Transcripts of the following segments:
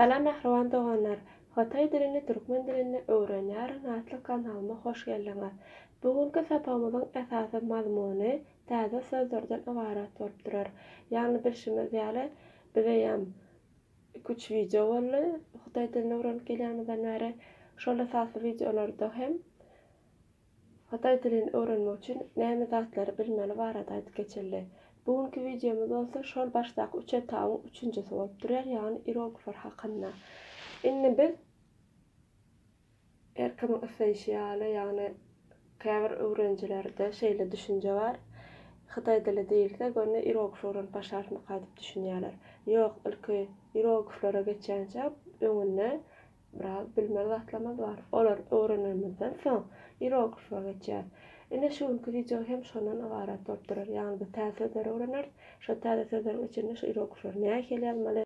Salam mähriban doganlar! Hytaý dilini türkmen dilinde öwrenýärin atly kanalyma hoş geldiňiz! Bu günki sapagymyzyň esasy mazmuny täze sözlerden ybarat bolup durar. Ýagny bilşimiz ýaly, bizeýem iki-üç wideo boldy hytaý dilini öwrenip gelýänimizden bäri. Şol esasy wideolarda hem Hytaý dilini öwrenmek üçin näme zatlary bilmeli barada aýdyp geçildi. Bu günki wideomyz bolsa şol başdaky üç etabyň üçünjisi bolup durýar, ýagny ieroglyflar hakynda. Indi biz her kimiň isleýşi ýaly, ýagny käbir öwrenijilerde şeýle düşünje bar, Hytaý dili diýilse, görne ieroglif öwrenip başlarmyka diýip düşünýärler. Ýok, ilki ierogliflere geçýänçä öňünde Biraz bilmez zatlarymyz bar. Olary öwrenenimizden soň ieroglife geçýäris. Ine şu günki wideo hem şondan ybarat bolup durar. Ýagny biz täze sözleri öwreneris. Şol täze sözleriň içinde şu ieroglifleri nähili ýazmaly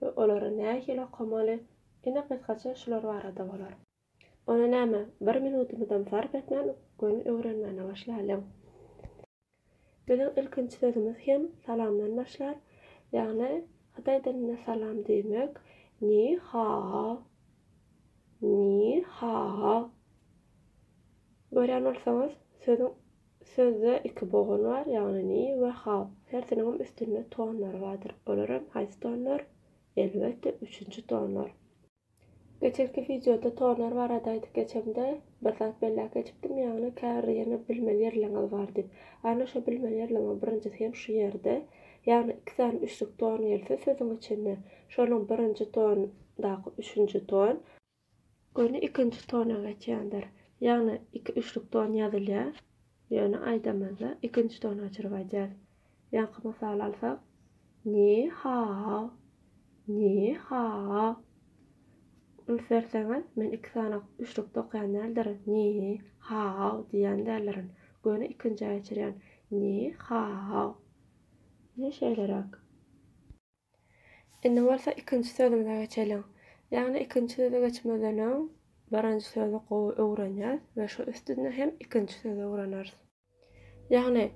we olary nähili okamaly. Ine gysgaça şular barada bolar. Onda näme, bir minutymyzam sarp etmän göni öwrenmäne başlalyň. Biziň ilkinji sözümiz hem salamdan başlar, ýagny hytaý dilinde salam diýmek Ni hao, Ni hao. Görýän bolsaňyz, sözüň sözde iki bogun bar, ýagny Ni we Hao. Hersiniňem üstünde tonlary bardyr. Olar hem haýsy tonlar? Elbetde, üçünji tonlar. Geçenki wideoda tonlar barada aýdyp geçemde bir zat belläp geçipdim ýagny käbir ýerine bilmeli ýerleriňiz bar diýip. Ana şo bilmeli ýerleriňiň birinjisi hem şu ýerde. Ýagny iki sany üçlük ton gelse sözüň içinde şonuň birinji ton daky üçünji ton. Göni ikinji tona geçýändir. Ýagny iki üçlük ton ýazylýar. Ýöne aýdamyzda ikinji tonu gaçyryp aýdýarys. Ýaňky mysaly alsak, Ni hao, ni hao. Üns berseňiz, men iki sany üçlükde okaýan däldirin, ni hao diýýän däldirin. Göni ikinjä geçirýän, ni hao. Ine şeýleräk. Indi bolsa ikinji sözümize geçeliň. Ýagny ikinji söze geçmezden öň birinji sözi gowy öwrenýäs we şu üstünde hem ikinji sözi öwreneris. Ýagny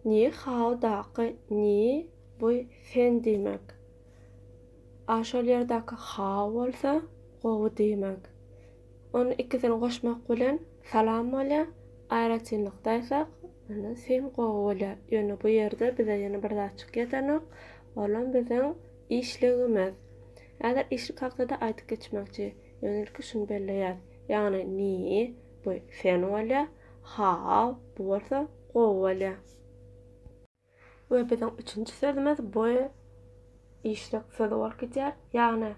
ni hao daky ni bu sen diýmek. A şol ýerdäki hao bolsa gowy diýmek. Ony ikisini goşmak bilen salam bolýar. Aýratynlykda aýtsak, indi syn gowy bolýar. Ýöne bu ýerde bize ýene bir zat çykýatanok, olam biziň işligimiz. Häzir işlik hakda-da aýdyp geçmekçi. Ýöne ilki şuny belleýäs. Ýagny ni, bu syn bolýar, haw, bu bolsa gowy bolýar. We biziň üçünji sözümiz bu işlek sözi bolup gidýär. Ýagny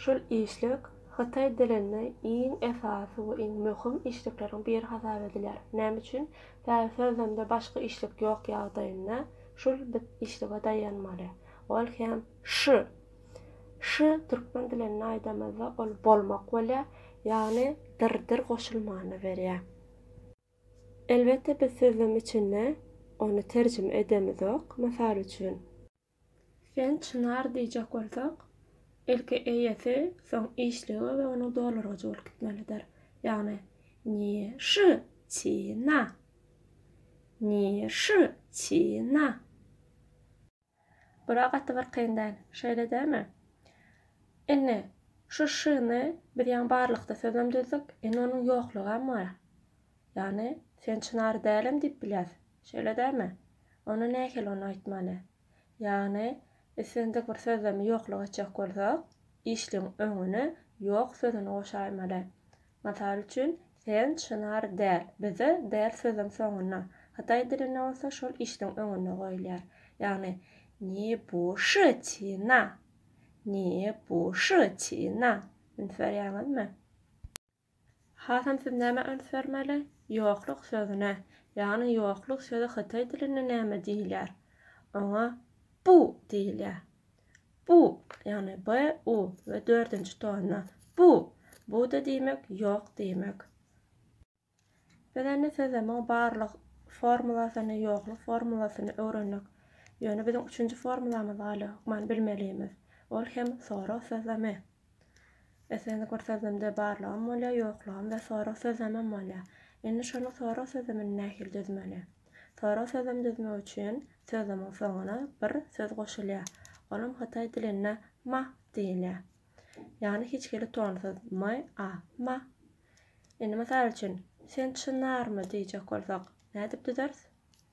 şul işlek hytaý dilinde iň esasy we iň möhüm işlekleriň biri hasap edilýär. Näme üçin? Sebäbi sözlemde başga işlek ýok ýagdaýynda şul biz işlege daýanmaly. Ol hem ş. Ş türkmen dilinde aýdamyzda ol bolmak bolýar, ýagny dyr-dyr goşulmany berýär. Elbetde biz sözlem içinde ony terjime edemizok. Mysal üçin. Sen çynar diýjek bolsak, ilki eýesi, soň işligi we onuň dolurgyjy bolup gitmelidir. Ýagny, Ni szy çi na. Ni szy çi na. Bura gaty bir kyn däl. Şeýle dälmi? Indi şu şyny biz ýaňy barlykda sözem düzdük, indi onuň ýoklugam bar. Ýagny, sen çynar dälem diýip bilýäs. Şeýle dälmi? Onda nähili ony aýtmaly? Ýagny, islendik bir sözlemi ýokluk etjek bolsak, işligiň öňüne ýok sözüni goşaýmaly. Mysal üçin, Sen çynar däl, bize däl sözüň soňuna, hytaý dilinde bolsa şol işdiň öňünde goýulýar. Ýagny, Ni bu shi ti na. Ni bu shi ti na. Üns berýäňizmi? Hasam siz nämä üns bermeli? Ýokluk sözüne. Ýagny, ýokluk sözi hytaý dilinde näme diýilýär? Oňa bu diýilýär. Bu, ýagny b, u we dördünji tonna. Bu, bu-da diýmek, ýok diýmek. Biz indi size muň barlyk formulasyny, ýokluk formulasyny öwrendik. Ýöne biziň üçünji formulamyz galy, hökman bilmelimiz. Ol hem sorag sözlemi. Islendik bir sözlemde barlygam bolýar, ýoklugam we sorag sözlemem bolýar. Indi şonuň sorag sözlemini nähili düzmeli? Sorag sözlemi düzmek üçin sözlemiň soňuna bir söz goşulýar. Olam hytaý dilinde ma diýilýär. Ýagny hiç hili tonsyz m-a, ma. Indi mysal üçin, Sen çynarmy? diýjek bolsak, nädip düzeris?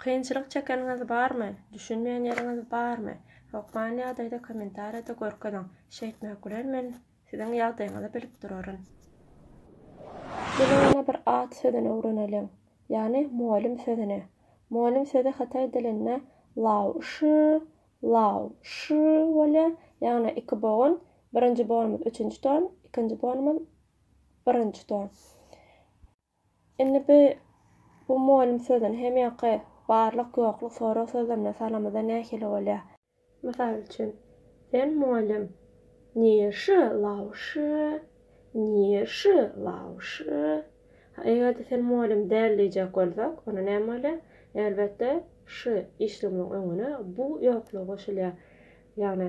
Kynçylyk çekeniňiz barmy? Düşünmeýän ýeriňiz barmy? Hokman ýagdaýda kommentariýada görkeziň. Şeýtmek bilen men siziň ýagdaýyňyzy bilip duraryn. Gelin ýene bir at sözüni öwreneliň. Ýagny molym sözüni. Molym sözi hytaý dilinde lao shi, lao shi, bolýar. Ýagny iki bogun, birinji bonumyz üçünji ton, ikinji bonumyz birinji ton. Indi bi bu molym sözüni hem ýoky, barlyk, ýokluk, sorag sözlemine salamyzda nähili bolýa? Mysal üçin, Sen molym, nirşi lawşy, nirşi lawşy. Ha, eger-de sen molym däl diýjek bolsak, onda näme bolýa? Elbetde, şy işligimiň öňüne bu ýokluk goşulýa. Ýagny,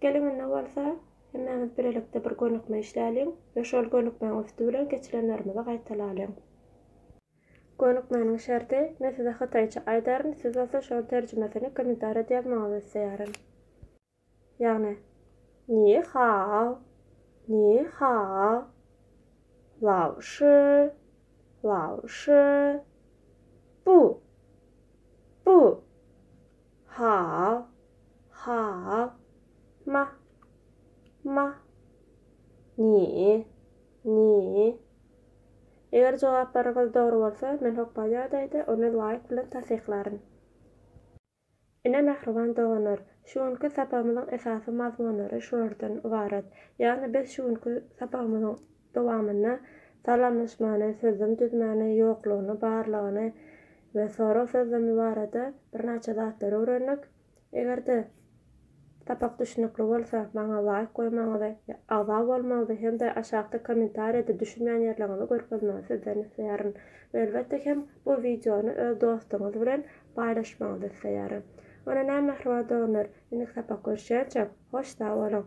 Geliginde bolsa, hemmäňiz birlikde bir gönükme işläliň we şol gönükmäň üsti bilen geçilenlerimizi gaýtalalyň. Gönükmäniň şerti, men size hytaýça aýdaryn, siz bolsa şoň terjimesini kommentariýada ýazmagyňyzy isleýärin. Ýagny, Ni hao, ni hao, Lao shi, Lao shi, Bu, bu, Haw. Haw. Mah. Mah. Nji. Nji. Eger jogaplaryňyz dogry bolsa, men hokga ýagdaýda, ony laýk bilen tassyklaryn. Ine mähriban doganlar, şu günki sapagymyzyň esasy mazmunlary şulardan ybarat. Ýagny biz şu günki sapagymyzyň. dowamynda salamlaşmany, sözlem düzmäni, ýoklugyny, barlygyny we sorag sözlemi barada birnäçe zatlary öwrendik. Eger-de sapak düşnükli bolsa, maňa laýk goýmagyňyzy, agza bolmagyňyzy hem-de aşakda kommentariýada düşünmän ýerleriňizi görkezmegiňizi sizden isleýärin. We elbetde hem bu wideony öz dostuňyz bilen paýlaşmagyňyzy isleýärin. Ýöne näme mähriban doganlar, indiki sapak görüşýänçäk, hoş sag boluň!